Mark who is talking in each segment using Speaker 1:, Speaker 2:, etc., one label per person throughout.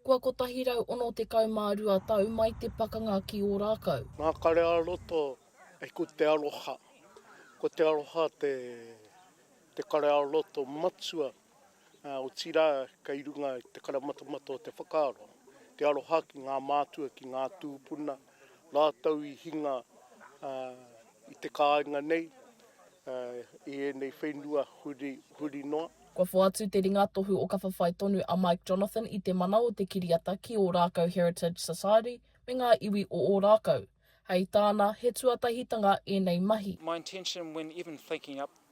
Speaker 1: Kua 162 tau mai te pakanga ki Ōrākau. Ngākare-ā-roto
Speaker 2: e Ko te aroha, ko te aroha te te kare-ā-roto matua, ā, otirā kei runga i te karamatamata o te whakaaro, te aroha ki ngā mātua, ki ngā tūpuna, Rātou i hinga i te kāinga nei, i ēnei whenua huri, huri noa. Kua whoatu te
Speaker 1: ringatohu o ka whawhai tonu a Mike Jonathan i te mana o te kiriata ki Ōrākau Heritage Society me ngā iwi o Ōrākau. Hei tāna, he tuatahitanga ēnei mahi. My intention when
Speaker 3: even thinking up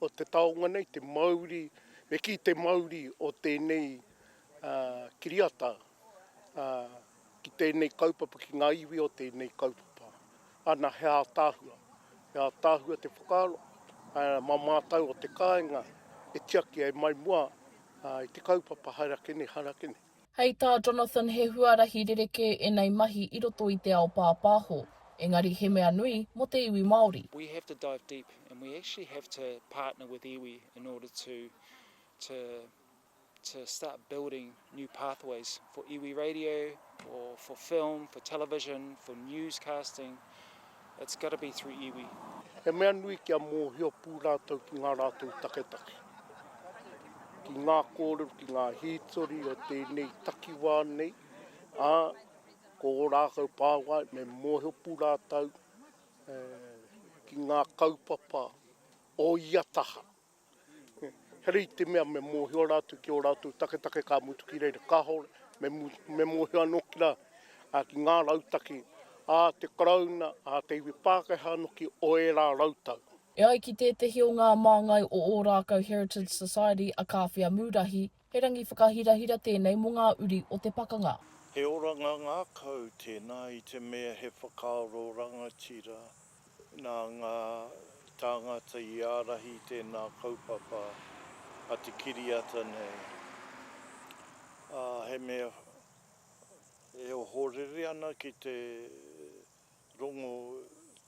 Speaker 2: o te taonga nei, te mauri, me kī te mauri o tēnei kiriata ki tēnei kaupapa, ki ngā iwi o tēnei kaupapa. Ana, he ātaahua, he ātaahua te whakaaro, mā mātou o te kāinga e tiaki ai mai mua i te kaupapa haere ake nei, haere ake nei. Hei tā
Speaker 1: Jonathan he huarahi rerekē enei mahi i roto i te ao pāpāho, engari he mea nui mo te iwi Māori. We have to dive deep
Speaker 3: and we actually have to partner with iwi in order to to to start building new pathways for iwi radio or for film, for television, for newscasting, It's gotta be through iwi. He mea nui
Speaker 2: kia mōhio pū rātou ki ngā rātou taketake, ki ngā kōrero, ki ngā hītori o tēnei takiwā nei, ā, ko ō rākau pāwae me mōhio pū rātou ki ngā kaupapa o ia taha. Heoi i te mea me mōhio rātou ki ō rātou taketake ka mutu ki reira, kāore me mōhio anō ki rā, ā, ki ngā rautaki a te Karauna, a te iwi Pākehā anō ki ō ērā rautau. E ai ki tētehi
Speaker 1: o ngā māngai o Ōrākau Heritage Society a Kāwhia Mūrahi, He rangi whakahirahira tēnei mō ngā uri o te pakanga. He oranga
Speaker 4: ngākau tēnā i te mea he whakaaro rangatira nā ngā tāngata i ārahi i tēnā kaupapa a te kiriata nei, ā, he mea e ohorere ana ki te rongo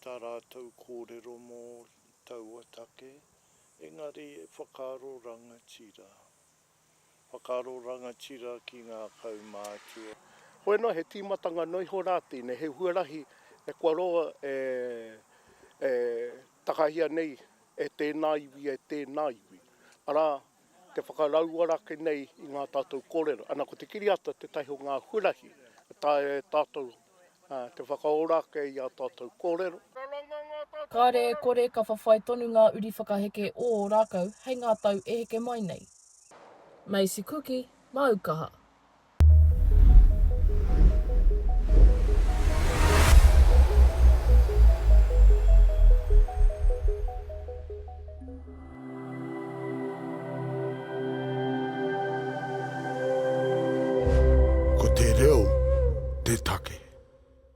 Speaker 4: tā rātou kōrero mō taua take, Engari e whakaaro rangatira. Whakaaro rangatira ki ngā kaumātua. Hoi noa, he
Speaker 2: tīmatanga noa iho rā tēnei, he huarahi e kua roa e, e takahia nei e tēnā iwi, e tēnā iwi. Arā, te whakarauora ake nei i ngā tātou kōrero. Ana, ko te kiriata tētahi o ngā huarahi e taea e tātou Te whakaora ake i a tatou korero. Kare
Speaker 1: e kore ka whawhai tonu ngā uri whakaheke o ō rākau hei ngā tau e heke mai nei. Macy Kuki, māu kaha. Ko te reo te take.